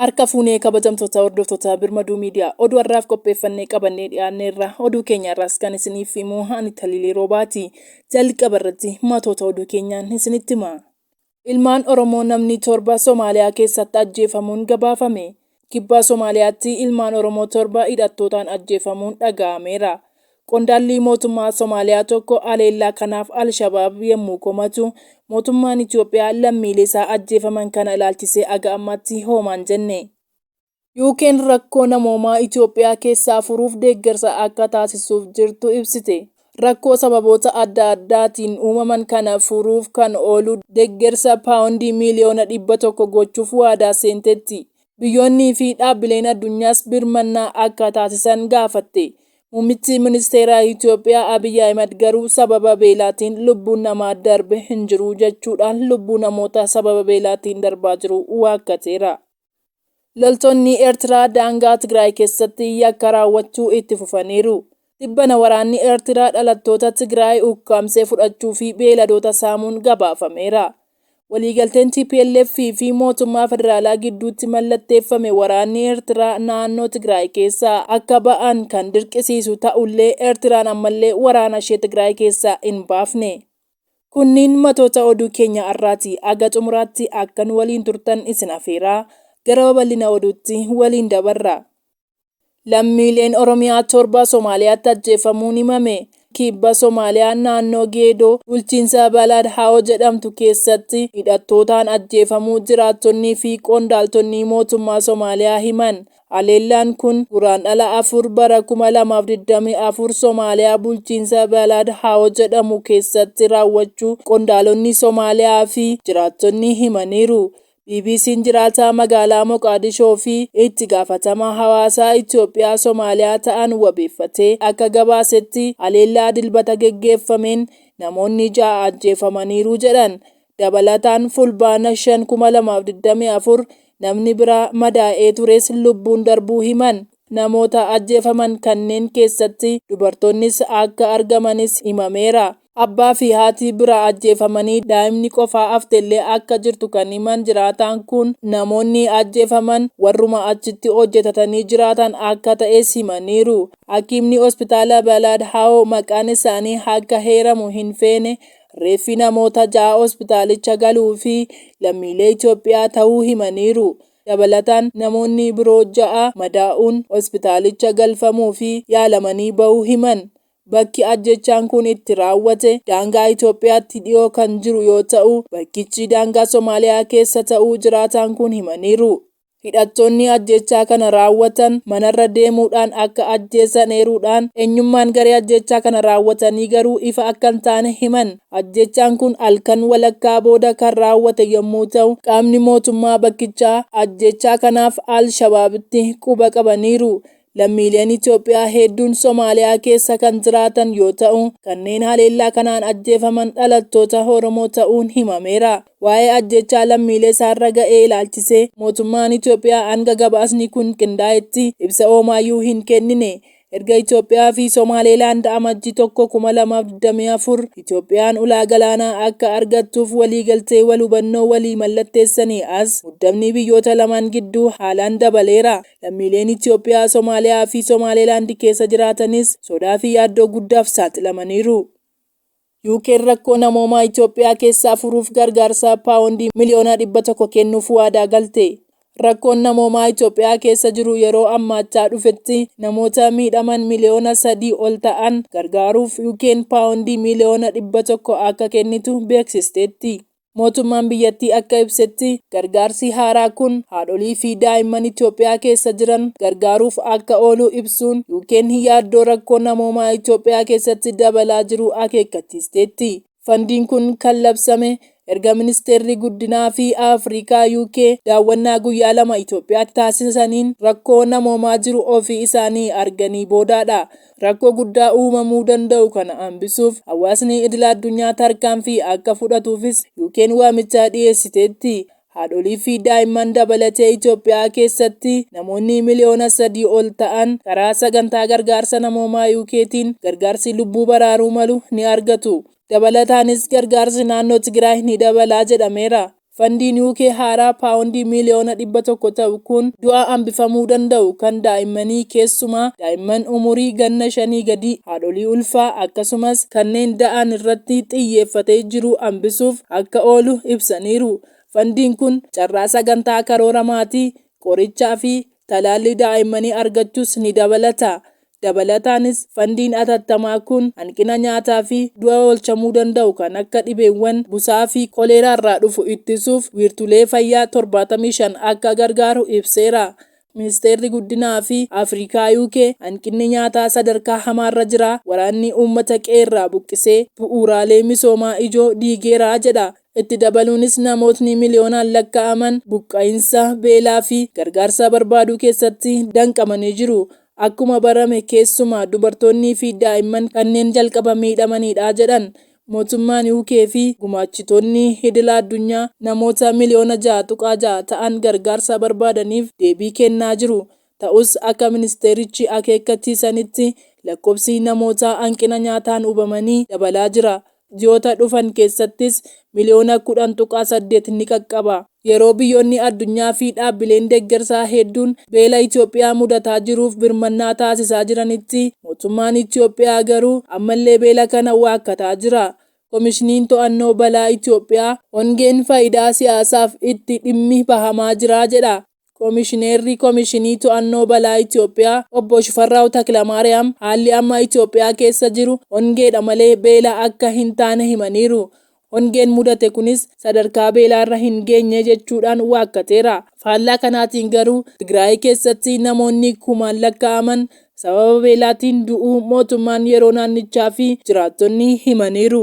Harka fuunee kabajamtoota hordoftoota Birmaduu Miidiyaa oduu har'aaf qopheeffannee qabannee dhiyaanneerra oduu keenya irraas kan isiniif himu ani Taliilee Roobaati. Jalqaba irratti matoota oduu keenyaan isinitti hima. Ilmaan Oromoo namni torba Somaaliyaa keessatti ajjeefamuun gabaafame. Kibba Somaaliyaatti ilmaan Oromoo torba hidhattootaan ajjeefamuun dhaga'ameera. Qondaalli mootummaa Somaaliyaa tokko haleellaa kanaaf Al-Shabaab yemmuu komatu, mootummaan Itoophiyaa lammiileesaa ajjeefaman kana ilaalchisee haga ammaatti hoomaan jenne. UK'n rakkoo namoomaa Itoophiyaa keessaa furuuf deeggarsa akka taasisuuf jirtu ibsite. Rakkoo sababoota adda addaatiin uumaman kana furuuf kan oolu deeggarsa paawundii miiliyoona 100 gochuuf waadaa seentetti. Biyyoonnii fi dhaabbileen addunyaas birmannaa akka taasisan gaafatte. Muummichi ministeeraa Itoophiyaa Abiy Ahimad garuu sababa beelaatiin lubbuun namaa darbe hin jiru jechuudhaan lubbuu namoota sababa beelaatiin darbaa jiru waakkateera. Loltoonni Eertiraa daangaa Tigraay keessatti yakka raawwachuu itti fufaniiru. Tibbana waraanni Eertiraa dhalattoota Tigraay ukkaamsee fudhachuu fi beeyladoota saamuun gabaafameera. Waliigalteen tplf fi mootummaa federaalaa gidduutti mallatteeffame waraanni Eertiraa naannoo Tigraay keessaa akka ba'an kan dirqisiisu ta'ullee Eertiraan ammallee waraanashee Tigraay keessaa hin baafne. Kunniin matoota oduu keenya arraati. Haga xumuraatti akka nu waliin turtan isin afeeraa, gara babal'ina oduutti waliin dabarra. Lammiileen Oromiyaa 7 Somaaliyaatti ajjeefamuun himame. Kibba Somaaliyaa naannoo Geedoo bulchiinsa Balaad Hawo jedhamtu keessatti hidhattootaan ajjeefamuu jiraattonnii fi qondaaltonnii mootummaa Somaaliyaa himan. Haleellaan kun Guraandhala afur bara kuma lamaa fi digdamii afur Somaaliyaa bulchiinsa Balad Hawo jedhamu keessatti raawwachuu qondaalonni Somaaliyaa fi jiraattonni himaniiru. BBC'n jiraataa magaalaa Moqaadishoo fi itti gaafatamaa hawaasaa Itoophiyaa Somaaliyaa ta'an wabeeffatee akka gabaasetti haleellaa Dilbata geggeeffameen namoonni ja'a ajjeefamaniiru jedhan. Dabalataan Fulbaana 5,2024 namni biraa madaa'ee tures lubbuun darbuu himan. Namoota ajjeefaman kanneen keessatti dubartoonnis akka argamanis himameera. Abbaa fi haati biraa ajjeefamanii daa'imni qofaa haftellee akka jirtu kan himan jiraataan kun, namoonni ajjeefaman warruma achitti hojjetatanii jiraatan akka ta'es himaniiru. Hakiimni Hospitaala Balaad Hawoo maqaan isaanii akka heeramu hin feene Reeffi namoota ja'a hospitaalicha galuu fi lammiilee Itoophiyaa ta'uu himaniiru. Dabalataan namoonni biroo ja'a madaa'uun hospitaalicha galfamuu fi yaalamanii ba'uu himan. Bakki ajjeechaan kun itti raawwate daangaa Itoophiyaatti dhiyoo kan jiru yoo ta'u, bakkichi daangaa Somaaliyaa keessa ta'uu jiraataan kun himaniiru. Hidhattoonni ajjeechaa kana raawwatan manarra deemuudhaan akka ajjeesan eeruudhaan, eenyummaan garee ajjeechaa kana raawwatanii garuu ifa akka hin taane himan. Ajjeechaan kun halkan walakkaa booda kan raawwate yommuu ta'u, qaamni mootummaa bakkichaa ajjeechaa kanaaf al-Shabaabitti quba qabaniiru. Lammiileen Itoophiyaa heedduun Somaaliyaa keessa kan jiraatan yoo ta'u, kanneen haleellaa kanaan ajjeefaman dhalattoota Oromoo ta'uun himameera. Waa'ee ajjeechaa lammiilee isaarra ga'ee ilaalchisee mootummaan Itoophiyaa hanga gabaasni kun qindaa'etti ibsa hoomaayyuu hin kennine. Erga Itoophiyaa fi Somaaleelaand Amajji 1, 2024 Itoophiyaan ulaa galaanaa akka argattuuf waliigaltee wal hubannoo walii mallatteessanii as muddamni biyyoota lamaan gidduu haalaan dabaleera. Lammiileen Itiyoophiyaa Somaaliyaa fi Somaaleelaand keessa jiraatanis sodaa fi yaaddoo guddaaf saaxilamaniiru. UK'n rakkoo namoomaa Itiyoophiyaa keessaa furuuf gargaarsa paawondii miliyoona 100 kennuuf waadaa galte. Rakkoon namoomaa Itiyoophiyaa keessa jiru yeroo ammaachaa dhufetti namoota miidhaman miliyoona 3 ol ta'an gargaaruuf UK'n paawondii miliyoona 100 akka kennitu beeksisteetti. Mootummaan biyyattii akka ibsetti, gargaarsi haaraa kun haadholii fi daa'imman Itoophiyaa keessa jiran gargaaruuf akka oolu ibsuun, UK'n yaaddoo rakkoo namoomaa Itoophiyaa keessatti dabalaa jiru akeekkachiisteetti. Fandiin kun kan labsame erga Ministeerri Guddinaa fi Afrikaa UK daawwannaa guyyaa lama Itoophiyaatti taasisaniin rakkoo namoomaa jiru ofii isaanii arganii boodaadha. Rakkoo guddaa uumamuu danda'u kana hambisuuf hawaasni idila addunyaa tarkaanfii akka fudhatuufis UKn waamicha dhiyeessiteetti. Haadholii fi daa'imman dabalatee Itoophiyaa keessatti namoonni miliyoona sadii ol ta'an karaa sagantaa gargaarsa namoomaa UKtiin gargaarsi lubbuu baraaruu malu ni argatu. Dabalataanis gargaarsi naannoo Tigraay ni dabala jedhameera. Fandiin UK haaraa paawondii miiliyoona 100 ta'u kun du'aa hambifamuu danda'u kan daa'immanii keessumaa daa'imman umurii ganna shanii gadii, haadholii ulfaa akkasumas kanneen da'aan irratti xiyyeeffatee jiru hambisuuf akka oolu ibsaniiru. Fandiin kun carraa sagantaa karoora maatii, qorichaa fi talaallii daa'immanii argachuus ni dabalata. Dabalataanis, fandiin atattamaa kun hanqina nyaataa fi du'a oolchamuu danda'u kan akka dhibeewwan busaa fi koleeraa irraa dhufu ittisuuf wiirtulee fayyaa torbaatamii shan akka gargaaru ibseera. Ministeerri Guddinaa fi Afrikaa UK hanqinni nyaataa sadarkaa hamaarra jira, waraanni uummata qe'eerraa buqqisee bu'uuraalee misoomaa ijoo diigeera jedha. Itti dabaluunis namootni miliyoonaan lakkaa'aman buqqa'insa, beelaa fi gargaarsa barbaaduu keessatti danqamanii jiru. Akkuma barame keessumaa dubartoonnii fi daa'imman kanneen jalqaba miidhamaniidha jedhan mootummaan UK fi gumaachitoonni idila addunyaa namoota miliyoona ja'a tuqaa ja'a ta'an gargaarsa barbaadaniif deebii kennaa jiru. Ta'us akka ministeerichi akeekkachiisanitti lakkoofsi namoota hanqina nyaataan hubamanii dabalaa jira. Ji'oota dhufan keessattis miliyoona 10.8 ni qaqqaba. Yeroo biyyoonni addunyaa fi dhaabbileen deeggarsaa hedduun beela Itoophiyaa mudataa jiruuf birmannaa taasisaa jiranitti, mootummaan Itoophiyaa garuu ammallee beela kana waakkataa jira. Komishiniin To'annoo Balaa Itoophiyaa, Hongeen faayidaa siyaasaaf itti dhimmi bahamaa jira jedha. Komishineerri Komishinii To'annoo Balaa Itiyoophiyaa Obbo Shifarraaw Taklamaariyaam haalli amma Itiyoophiyaa keessa jiru hongeedha malee beela akka hin taane himaniiru. Hongeen mudate kunis sadarkaa beelaarra hin geenye jechuudhaan waakkateera. Faallaa kanaatiin garuu Tigraay keessatti namoonni kumaan lakkaa'aman sababa beelaatiin du'uu mootummaan yeroo naannichaa fi jiraattonni himaniiru.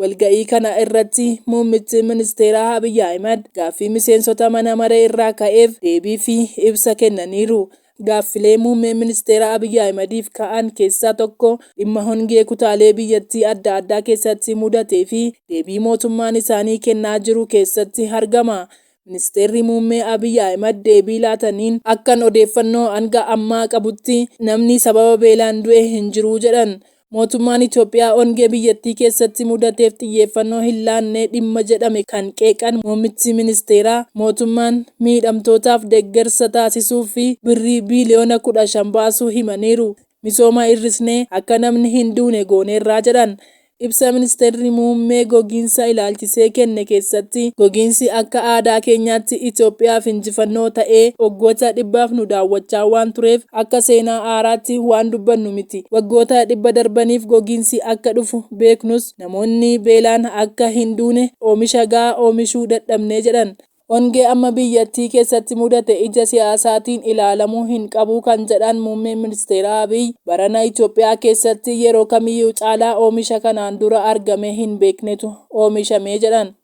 Walga'ii kana irratti muummichi ministeeraa Abiy Ahimad gaaffii miseensota mana maree irraa ka'eef deebii fi ibsa kennaniiru. Gaaffilee muummee ministeera Abiy Ahimadiif ka'an keessaa tokko dhimma hongee kutaalee biyyattii adda addaa keessatti mudatee fi deebii mootummaan isaanii kennaa jiru keessatti argama. Ministeerri muummee Abiy Ahimad deebii laataniin akkan odeeffannoo hanga ammaa qabutti namni sababa beelaan du'e hin jiru jedhan. Mootummaan Itoophiyaa ongee biyyattii keessatti mudateef xiyyeeffannoo hin laanne dhimma jedhame kan qeeqan muummichi ministeeraa, mootummaan miidhamtootaaf deggersa taasisuuf fi birrii biiliyoona kudha shan baasuu himaniiru. Misooma hir'isnee akka namni hin duune gooneerra jedhan. Ibsa ministeerri muummee gogiinsa ilaalchisee kenne keessatti gogiinsi akka aadaa keenyaatti Itoophiyaaf injifannoo ta'ee waggoota dhibbaaf nu daawwachaa waan tureef Akka seenaa haaraatti waan dubbannu miti. Waggoota dhibba darbaniif gogiinsi akka dhufu beeknus namoonni beelaan akka hin duune oomisha gahaa oomishuu dadhabne jedhan. Hongee amma biyyattii keessatti mudate ija siyaasaatiin ilaalamuu hin qabu kan jedhan Muummeen Ministeeraa Abiy, barana Itoophiyaa keessatti yeroo kamiyyuu caalaa oomisha kanaan dura argamee hin beeknetu oomishame jedhan.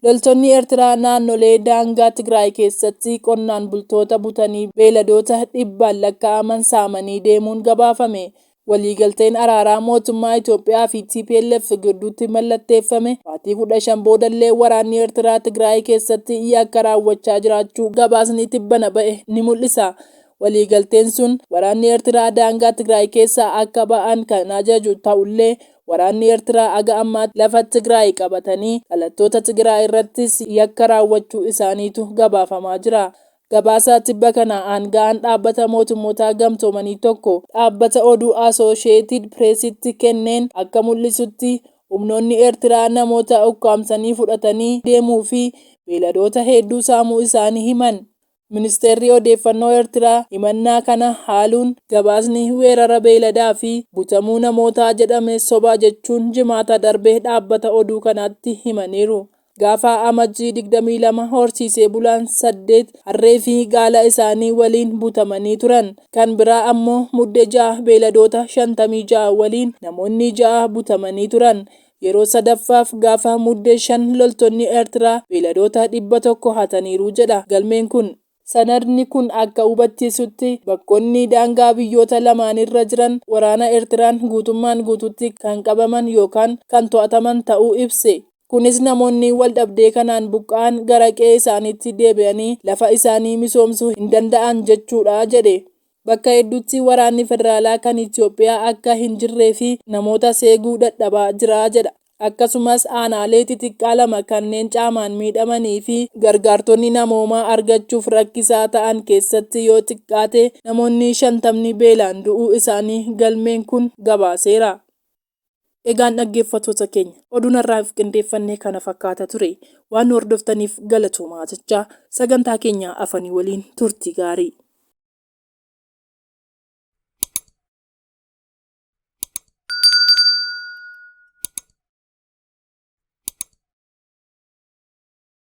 Loltoonni Eertiraa naannolee daangaa Tigraay keessatti qonnaan bultoota butanii beeyladoota dhibbaan lakkaa'aman saamanii deemuun gabaafame. Waliigalteen araaraa mootummaa Itoophiyaa fi tplf gidduutti mallatteeffame baatii kudha shan boodallee waraanni Eertiraa Tigraay keessatti yakka raawwachaa jiraachuu gabaasni tibbana ba'e ni mul'isa. Waliigalteen sun waraanni Eertiraa daangaa Tigraay keessaa akka ba'an kan ajaju ta'ullee, Waraanni Ertiraa haga ammaatti lafa Tigraay qabatanii dhalattoota Tigiraay irrattis yakka raawwachuu isaaniitu gabaafamaa jira. Gabaasa tibba kana aanga'aan Dhaabbata Mootummoota Gamtoomanii tokko dhaabbata oduu Asooshiyeetid Pireesitti kenneen akka mul'isutti, humnoonni Ertiraa namoota ukkaamsanii fudhatanii deemuu fi beeladoota hedduu saamuu isaanii himan. Ministeerri Odeeffannoo Ertiraa himannaa kana haaluun gabaasni weerara beeyladaa fi butamuu namootaa jedhame soba jechuun Jimaata darbe dhaabbata oduu kanaatti himaniiru. Gaafa Amajjii digdamii lama horsiisee bulaan saddeet harree fi gaala isaanii waliin butamanii turan. Kan biraa ammoo Mudde ja'a beeyladoota shantamii ja'a waliin namoonni ja'a butamanii turan. Yeroo sadaffaaf gaafa Muddee 5 loltoonni Ertiraa beeyladoota 100 hataniiru jedha galmeen kun. Sanadni kun akka hubachiisutti, bakkonni daangaa biyyoota lamaaniirra jiran waraana Ertiraan guutummaan guutuutti kan qabaman yookaan kan to'ataman ta'uu ibse. Kunis namoonni waldhabdee kanaan buqqa'an gara qe'ee isaaniitti deebi'anii lafa isaanii misoomsuu hin danda'an jechuudha jedhe. Bakka hedduutti waraanni federaalaa kan Itiyoophiyaa akka hin jirree fi namootas eeguu dadhabaa jira jedha. Akkasumas aanaalee xixiqqaa lama kanneen caamaan miidhamanii fi gargaartonni namoomaa argachuuf rakkisaa ta'an keessatti yoo xiqqaate namoonni shantamni beelaan du'uu isaanii galmeen kun gabaaseera. Egaan dhaggeeffattoota keenya oduun har'aaf qindeeffanne kana fakkaata ture. Waan nu hordoftaniif galatoomaa jechaa sagantaa keenya afanii waliin turtii gaarii.